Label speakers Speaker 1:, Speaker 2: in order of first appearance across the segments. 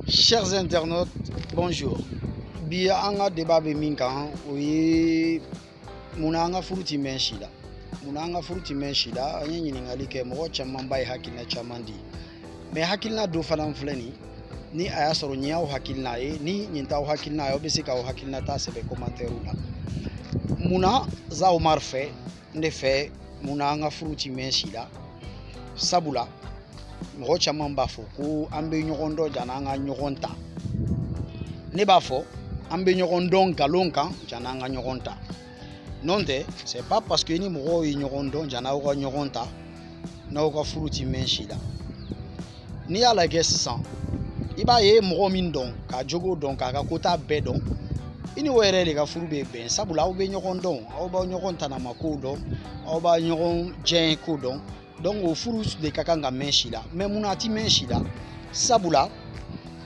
Speaker 1: Chers internautes, bonjour. Bi an ka débat bɛ min kan o ye munna an ka furu ti mɛn si la munna an ka furu ti mɛn si la an ye ɲininkali kɛ mɔgɔ camanba ye hakilina caman di mais hakilina dɔ fana filɛ nin ni a y'a sɔrɔ nin y'aw hakilina ye ni nin t'aw hakilina ye aw bɛ se k'aw hakilina ta sɛbɛn commentaire la munna za Oumar fɛ n de fɛ mun na an ka furu ti mɛn si la sabula mɔgɔ caman b'a fɔ ko an bɛ ɲɔgɔn dɔn jan'an ka ɲɔgɔn ta ne b'a fɔ an bɛ ɲɔgɔn dɔn nkalon kan jan'an ka ɲɔgɔn ta n'o tɛ c'est pas parce que ni mɔgɔw ye ɲɔgɔn dɔn jan'aw ka ɲɔgɔn ta n'aw ka furu ti mɛn si la n'i y'a lajɛ sisan i b'a ye mɔgɔ min dɔn k'a jogo dɔn k'a ka kota bɛɛ dɔn i ni o yɛrɛ de ka furu bɛ bɛn sabula aw bɛ ɲɔgɔn dɔn aw b'aw ɲɔgɔn tanama kow dɔn aw b'a ɲɔgɔn diyanye ko dɔn donc o furu de ka kan ka mɛn si la mais mun na a ti mɛn si la sabula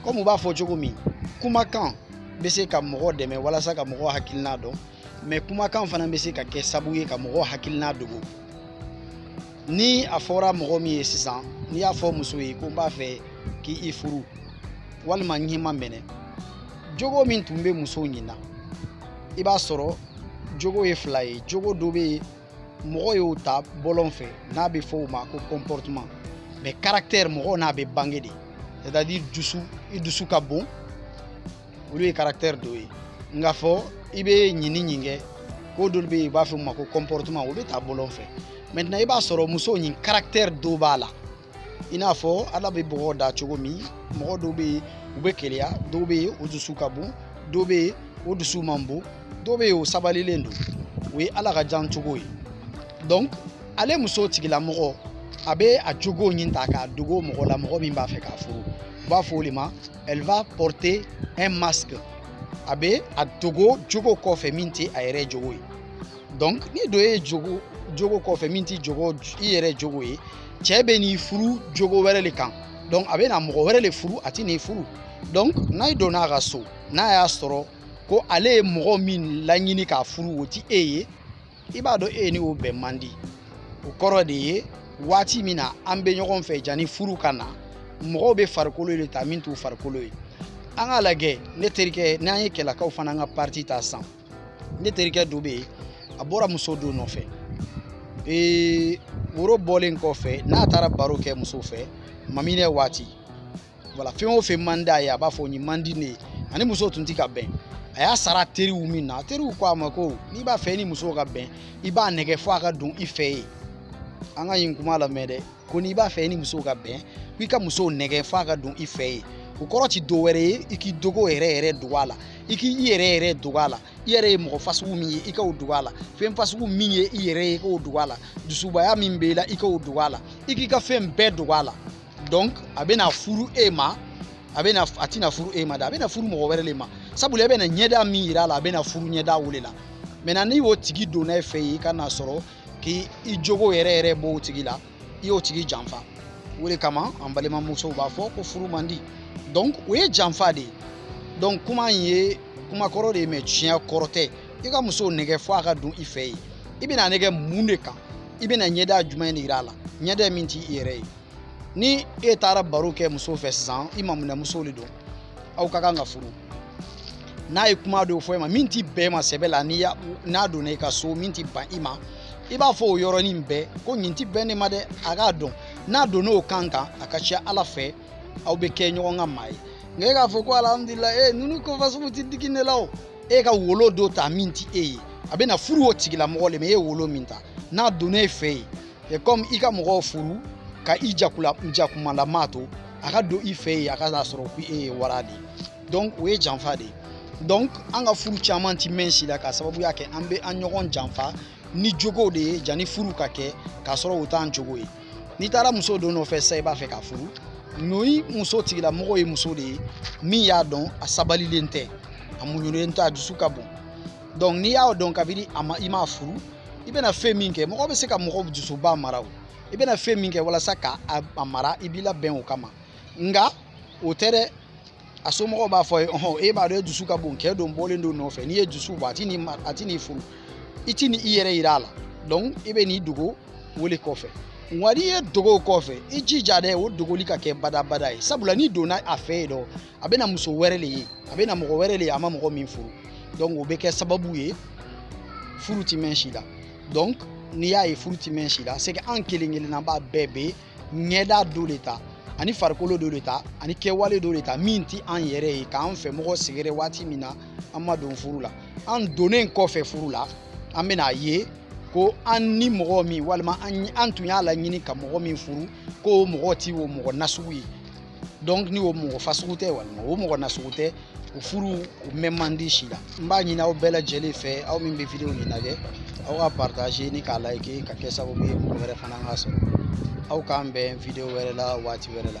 Speaker 1: kɔmi u b'a fɔ cogo min kumakan bɛ se ka mɔgɔ dɛmɛ walasa ka mɔgɔ hakilina dɔn mais kumakan fana bɛ se ka kɛ sabu ye ka mɔgɔ hakilina dogo ni a fɔra mɔgɔ min ye sisan n'i y'a fɔ muso ye ko n b'a fɛ k'i furu walima n y'i maminɛ jogo min tun bɛ muso ɲin na i b'a sɔrɔ jogo ye fila ye jogo dɔ bɛ yen mɔgɔ y'o ta bɔlɔn fɛ n'a bɛ fɔ o ma ko comportement mais caractère mɔgɔ n'a bɛ bange de c'est à dire i dusu ka bon olu ye caractère dɔ ye nka fɔ i bɛ ɲin ni ɲin kɛ ko dɔw bɛ yen u b'a fɔ o ma ko comportement o bɛ ta bɔlɔn fɛ maintenant i b'a sɔrɔ muso ɲin caractère dɔ b'a la i n'a fɔ ala bɛ mɔgɔ da cogo min mɔgɔ dɔw bɛ yen u bɛ keleya dɔw bɛ yen o dusu ka bon dɔw bɛ yen o dusu man bon dɔw bɛ yen o sabalilen don o ye ala ka dan cogo ye donc ale muso tigilamɔgɔ a bɛ a jogo ɲin ta k'a dogo mɔgɔ la mɔgɔ min b'a fɛ k'a furu u b'a fɔ o de ma Elle va porter un masque a bɛ a dogo jogo kɔfɛ min tɛ a yɛrɛ jogo ye donc ni dɔ y'i dogo jogo kɔfɛ min tɛ jogo i yɛrɛ jogo ye cɛ bɛ n'i furu jogo wɛrɛ de kan donc a bɛ na mɔgɔ wɛrɛ de furu a tɛ n'i furu donc n'a donna a ka so n'a y'a sɔrɔ ko ale ye mɔgɔ min laɲini k'a furu o tɛ e ye i b'a dɔn e ni o bɛn man di o kɔrɔ de ye waati min na an bɛ ɲɔgɔn fɛ jani furu ka na mɔgɔw bɛ farikolo de ta min t'u farikolo ye an k'a lajɛ ne terikɛ n'an ye kɛlakaw fana ka partie ta san ne terikɛ dɔ bɛ yen a bɔra muso dɔ nɔfɛ ee woro bɔlen kɔfɛ n'a taara baro kɛ muso fɛ maminɛ waati voilà fɛn o fɛn man d'a ye a b'a fɔ nin man di ne ye ani muso tun tɛ ka bɛn a y'a sara teriw min na teriw ko a ma ko n'i b'a fɛ ni muso ka bɛn i b'a nɛgɛ fo a ka don i fɛ yen an ka nin kuma lamɛn dɛ ko n'i b'a fɛ ni muso ka bɛn ko i ka muso nɛgɛ fo a ka don i fɛ yen o kɔrɔ ti dɔ wɛrɛ ye i k'i jogo yɛrɛ yɛrɛ dogo a la i k'i i yɛrɛ yɛrɛ dogo a la i yɛrɛ ye mɔgɔ fasugu min ye i k'o dogo a la fɛn fasugu min ye i yɛrɛ ye i k'o dogo a la dusubaya min b'i la i k'o dogo a la i k'i ka fɛn bɛɛ dogo a la donc a bɛna furu e ma a bɛna a tɛna furu e ma dɛ a bɛna furu mɔgɔ wɛrɛ de ma sabula e bɛna ɲɛda min yira a la a bɛna furu ɲɛda o de la maintenant ni o tigi donna e fɛ yen i ka n'a sɔrɔ k'i i jogo yɛrɛ yɛrɛ b'o tigi la i y'o tigi janfa o de kama an balimamusow b'a fɔ ko furu man di donc o ye janfa de ye donc kuma in ye kuma kɔrɔ de ye mais tiɲɛ kɔrɔ tɛ i ka muso nɛgɛ fo a ka don i fɛ yen i bɛna nɛgɛ mun de kan i bɛna ɲɛda jumɛn de yira a la ɲɛda min t'i i yɛrɛ ye ni e taara baro kɛ muso fɛ sisan i maminɛmuso de don aw ka kan ka furu n'a ye kuma dɔw fɔ e ma min ti bɛn i ma sɛbɛ la ni n'a donna i ka so min ti bɛn i ma i b'a fɔ o yɔrɔnin bɛɛ ko nin tɛ bɛn ne ma dɛ a k'a dɔn n'a donna o kan kan a ka ca ala fɛ aw bɛ kɛ ɲɔgɔn ka maa ye nka e k'a fɔ ko alihamudulilayi ninnu ko fasugu tɛ digi ne la o e ka wolo dɔ ta min ti e ye a bɛna furu o tigilamɔgɔ le ma e ye wolo min ta n'a donna e fɛ yen c'est comme i ka mɔgɔw furu ka i jakula jakumalama to a ka don i fɛ yen a ka n'a sɔrɔ ko e ye wara de ye donc o ye janfa de ye donc an ka furu caman ti mɛn si la k'a sababuya kɛ an bɛ an ɲɔgɔn janfa ni jogo de ye janni furu ka kɛ k'a sɔrɔ o t'an jogo ye n'i taara muso dɔ nɔfɛ sisan i b'a fɛ k'a furu n'o muso tigilamɔgɔ ye muso de ye min y'a dɔn a sabalilen tɛ a muɲunen tɛ a dusu ka bon donc n'i y'a dɔn kabini a ma i m'a furu i bɛna fɛn min kɛ mɔgɔ bɛ se ka mɔgɔ dusuba mara o i bɛna fɛn min kɛ walasa ka a mara i b'i labɛn o kama nka o tɛ dɛ a somɔgɔw b'a fɔ a ye ɔhɔn e b'a dɔn e dusu ka bon kɛ dɔ bɔlen don nɔfɛ n'i ye dusu bɔ a ti n'i a ti n'i furu i ti ni i yɛrɛ yira a la donc i bɛ n'i dogo o de kɔfɛ nka n'i y'i dogo kɔfɛ i jija dɛ o dogoli ka kɛ badabada ye sabula n'i donna a fɛ yen dɔrɔn a bɛna muso wɛrɛ de ye a bɛna mɔgɔ wɛrɛ de ye a ma mɔgɔ min furu donc o bɛ kɛ sababu ye furu ti mɛn si la donc n'i y'a ye furu ti mɛn si la c'est que an kelen kelenna b'a bɛɛ bɛ ɲɛda dɔ de ta ani farikolo dɔ de ta ani kɛwale dɔ de ta min ti an yɛrɛ ye k'an fɛ mɔgɔ sɛgɛrɛ waati min na an ma don furu la an donnen kɔfɛ furu la an bɛna a ye ko an ni mɔgɔ min walima an tun y'a laɲini ka mɔgɔ min furu ko o mɔgɔ ti o mɔgɔ nasugu ye donc ni o mɔgɔ fasugu tɛ walima o mɔgɔ nasugu tɛ o furu o mɛn man di si la n b'a ɲini aw bɛɛ lajɛlen fɛ aw min bɛ vidéo nin lajɛ aw k'a partager ni k'a like ka kɛ sababu ye mɔgɔ wɛrɛ fana k'a sɔrɔ aw k'an bɛn vidéo wɛrɛ la waati wɛrɛ la